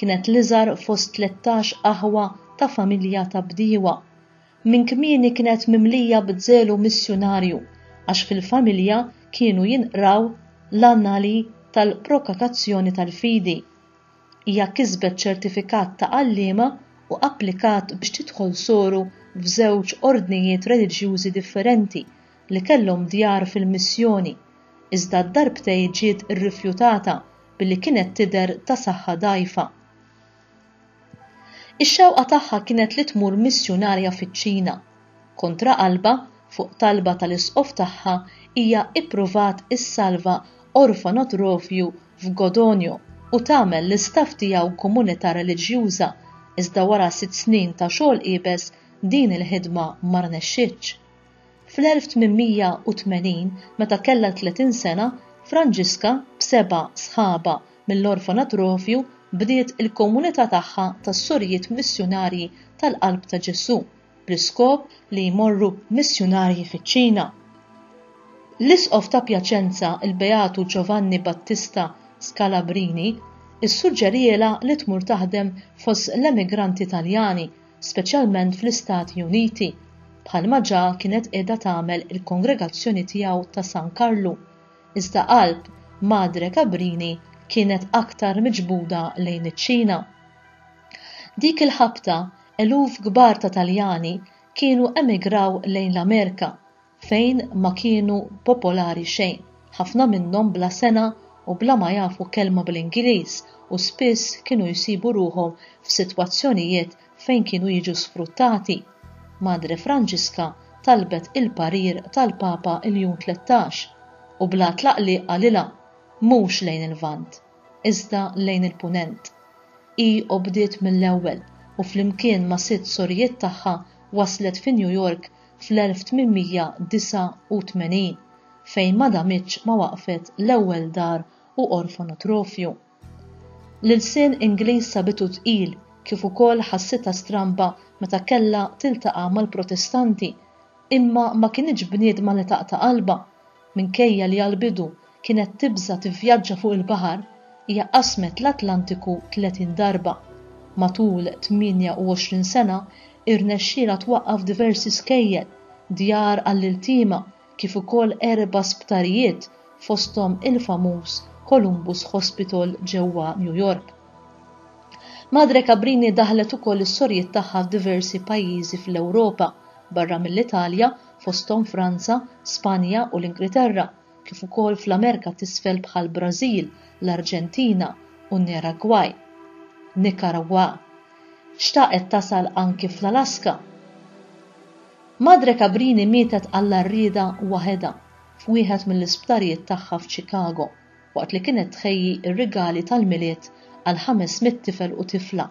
kienet l-iżgħar fost tlettax aħwa ta' familja ta' bdiewa. Minn kmieni kienet mimlija b'żelu missjunarju għax fil-familja kienu jinqraw l-annali tal-prokakazzjoni tal-fidi. Hija kisbet ċertifikat ta' għalliema u applikat biex tidħol soru f'żewġ ordnijiet reliġjużi differenti li kellhom djar fil-missjoni, iżda darbtejn ġiet irrifjutata billi kienet tidher ta' saħħa dgħajfa. Ix-xewqa tagħha kienet li tmur missjunarja fiċ-Ċina. Kontra qalbha, fuq talba tal-isqof tagħha, hija ippruvat issalva orfanotrofju f'Godogno u tagħmel l-istaff tiegħu komunità reliġjuża, iżda wara sitt snin ta' xogħol iebes, din il-ħidma ma rnexxietx. Fl-1880, meta kellha tletin sena, Franġiska, b'seba' sħabha mill-orfanat Rovju, bdiet il-komunità tagħha tas-Sorijiet Missjunarji tal-Qalb ta' Ġesù, bl-iskop li jmorru missjunarji fiċ-Ċina. L-Isqof ta' Pjaċenza, il-Beatu Giovanni Battista Scalabrini, issuġġerielha li tmur taħdem fost l-emigranti Taljani speċjalment fl-Istati Uniti, bħalma ġa kienet qiegħda tagħmel il-kongregazzjoni tiegħu ta' San Karlu, iżda qalb Madre Cabrini kienet aktar miġbuda lejn iċ-Ċina. Dik il-ħabta eluf kbar ta' Taljani kienu emigraw lejn l-Amerika fejn ma kienu popolari xejn, ħafna minnhom bla sengħa u bla ma jafu kelma bl-Ingliż u spiss kienu jsibu ruħhom f'sitwazzjonijiet fejn kienu jiġu sfruttati, Madre Franġiska talbet il-parir tal-Papa Iljun Tlettax u bla tlaqliq qalilha, Mhux lejn il-Lvant, iżda lejn il-Punent. Hi obdiet mill-ewwel u flimkien ma' sitt sorijiet tagħha waslet fi New York fl-1889 fejn ma damitx ma waqqfet l-ewwel dar u orfanotrofju. L-ilsien Ingliż sabitu tqil kif ukoll ħassitha stramba meta kellha tiltaqa' mal-Protestanti imma ma kinitx bniedma li taqta' qalbha Minkejja li għall-bidu kienet tibża' tivvjaġġa fuq il-baħar, hija qasmet l-Atlantiku 30 darba. Matul 28 sena, irnexxielha twaqqaf diversi skejjel, djar għall-iltiema, kif ukoll erba' sptarijiet, fosthom il-famuż Columbus Hospital ġewwa New York. Madre Cabrini daħħlet ukoll is-sorjiet tagħha f'diversi pajjiżi fl-Ewropa, barra mill-Italja, fosthom Franza, Spanja u l-Ingriterra, kif ukoll fl-Amerika t'Isfel bħall-Brażil, l-Arġentina u n-Niragwaj, Nicaragua. Xtaqet tasal anki fl-Alaska. Madre Cabrini mietet għall-għarrieda waħedha f'wieħed mill-isptarijiet tagħha f'Chicago waqt li kienet tħejji r-rigali tal-Milied għal 500 tifel u tifla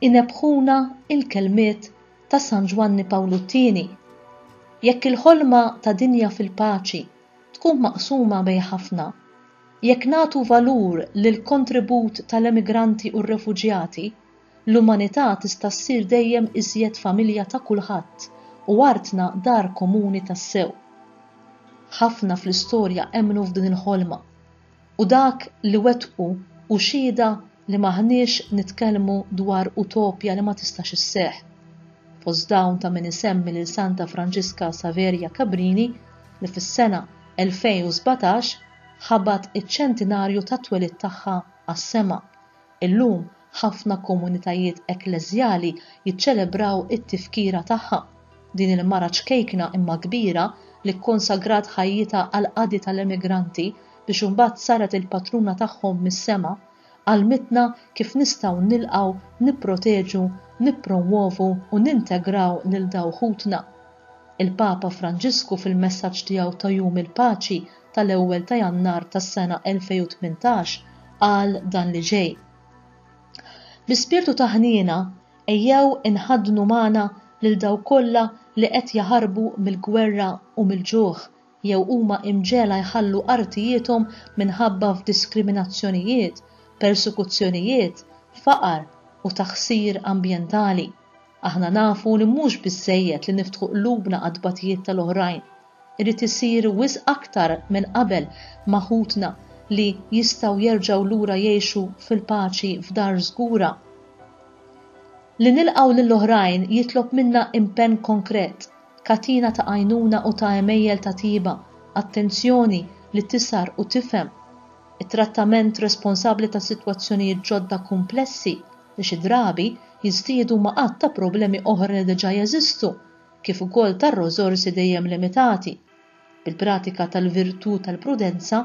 Inebbħuna l-kelmiet ta' San Ġwanni Pawlu t-Tieni, Jekk il-ħolma ta' dinja fil-paċi tkun maqsuma bejn ħafna, jekk nagħtu valur lill-kontribut tal-emigranti u r-refuġjati, l-umanità tista' ssir dejjem iżjed familja ta' kulħadd u artna dar komuni tassew. Ħafna fl-istorja emmnu f'din il-ħolma. U dak li wettqu hu xhieda li m'aħniex nitkellmu dwar utopja li ma tistax isseħħ. Fost dawn ta' min isemmi lil Santa Franġiska Saveria Cabrini li fis-sena 2017 ħabat iċ-ċentinarju tat-twelid tagħha għas-sema, Illum, ħafna komunitajiet ekkleżjali jiċċelebraw it-tifkira tagħha. Din il-mara ċkejkna imma kbira, li kkonsagrat ħajjitha għall-qadi tal-emigranti biex imbagħad saret il-patruna tagħhom mis-sema, għallmitna kif nistgħu nilqgħu, nipproteġu, nippromwovu u nintegraw lil daw ħutna. Il-Papa Franġisku fil-messaġġ tiegħu ta' Jum il-Paċi tal-ewwel ta' Jannar tas-sena 2018 qal dan li ġej, Bl-ispirtu ta' ħniena, ejjew inħaddnu magħna lil dawk kollha li qed jaħarbu mill-gwerra u mill-ġuħ jew huma imġegħla jħallu artijiethom minħabba f'diskriminazzjonijiet, persekuzzjonijiet, faqar u taħsir ambjentali. Aħna nafu li mhux biżżejjed li niftħu qlubna għat-tbatijiet tal-oħrajn. Irid isir wisq aktar minn qabel ma' ħutna li jistgħu jerġgħu lura jgħixu fil-paċi f'dar żgura. Li nilqgħu lill-oħrajn jitlob minna impenn konkret, katina ta' għajnuna u ta' għemejjel ta' tjieba, attenzjoni li tisgħar u tifhem, it-trattament responsabbli ta' sitwazzjonijiet ġodda kumplessi, li xi drabi jiżdiedu ma' għadd ta' problemi oħra li diġà jeżistu, kif ukoll tar-rożorsi dejjem limitati. Bil-pratika tal-virtù tal-prudenza,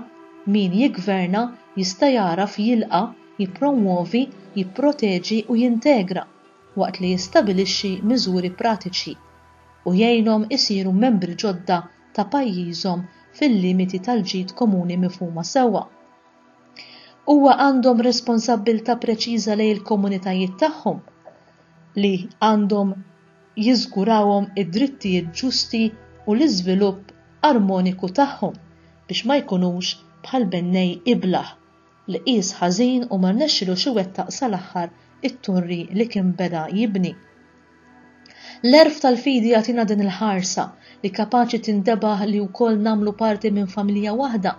min jiggverna jista' jagħraf jilqa', jippromwovi, jipproteġi u jintegra, waqt li jistabilixxi miżuri pratiċi, u jgħinhom isiru membri ġodda ta' pajjiżhom fil-limiti tal-ġid komuni mifhuma sewwa. Huwa għandhom responsabbiltà preċiża lejn il-komunitajiet tagħhom li għandhom jiżgurawhom id-drittijiet ġusti u l-iżvilupp armoniku tagħhom biex ma jkunux bħal bennej iblah li qies ħażin u ma rnexxilux iwettaq sal-aħħar it-torri li kien beda jibni. L-għerf tal-fidi jagħtina din il-ħarsa li kapaċi tintebaħ li wkoll nagħmlu parti minn familja waħda.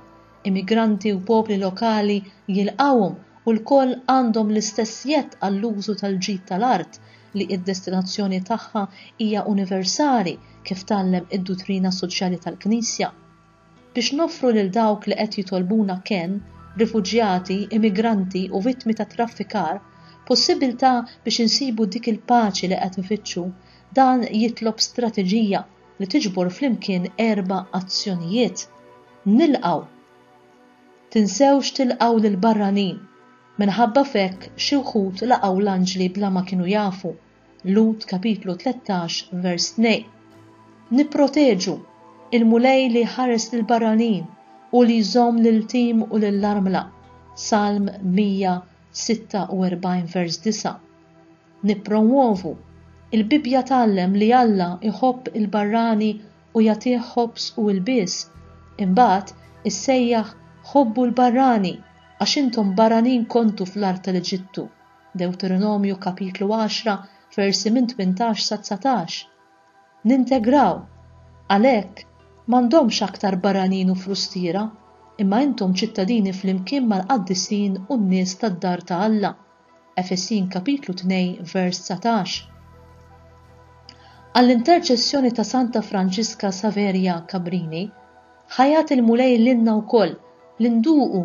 Immigranti u popli lokali jilqgħuhom u lkoll għandhom l-istess jedd għall-użu tal-ġid tal-art li id-destinazzjoni tagħha hija universali kif tgħallem id-duttrina soċjali tal-Knisja. Biex noffru lil dawk li qed jitolbuna kenn, rifuġjati, immigranti u vittmi tat-traffikar, possibbiltà biex insibu dik il-paċi li qed nfittxu, dan jitlob strateġija li tiġbor flimkien erba' azzjonijiet. Nilqgħu! Tinsewx tilqgħu lill-barranin! Minħabba f'hekk xi wħud laqgħu l-anġli bla ma kienu jafu. Lut kapitlu 13 vers 2. Nipproteġu il-Mulej li ħares lil barranin u li jżomm lil tim u lil armla. Salm 146 vers 9. Nippromwovu il-Bibbja tgħallem li Alla iħobb il-barrani u jagħtih ħobż u ilbies. Imbagħad issejjaħ ħobbu l-barrani għax intom barranin kontu fl-art tal-Eġittu. Dewteronomju kapitlu għaxra versi minn tmintax sa dsatax. Nintegraw. Għalhekk, m'għandhomx aktar barranin u frustiera, imma intom ċittadini flimkien mal-qaddisin u n-nies tad-dar ta' Alla. Efesin kapitlu tnejn vers dsatax. Għall-interċessjoni ta' Santa Franġiska Saverja Cabrini, ħa jagħti l-Mulej lilna wkoll li nduqu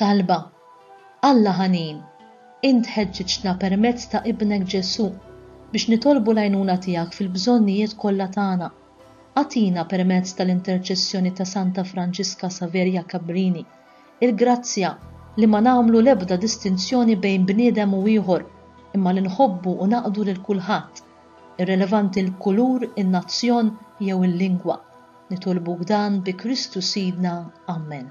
Talba, Alla ħanin, int ħeġġiġtna permezz ta' Ibnek Ġesù biex nitolbu l-għajnuna tiegħek fil-bżonnijiet kollha tagħna. Agħtina permezz tal-interċessjoni ta' Santa Franġiska Saveria Cabrini l-grazzja li ma nagħmlu l-ebda distinzjoni bejn bniedem u ieħor imma li nħobbu u naqdu lil kulħadd, irrelevanti l-kulur, in-nazzjon jew il-lingwa. Nitolbuk dan bi Kristu Sidna. Amen.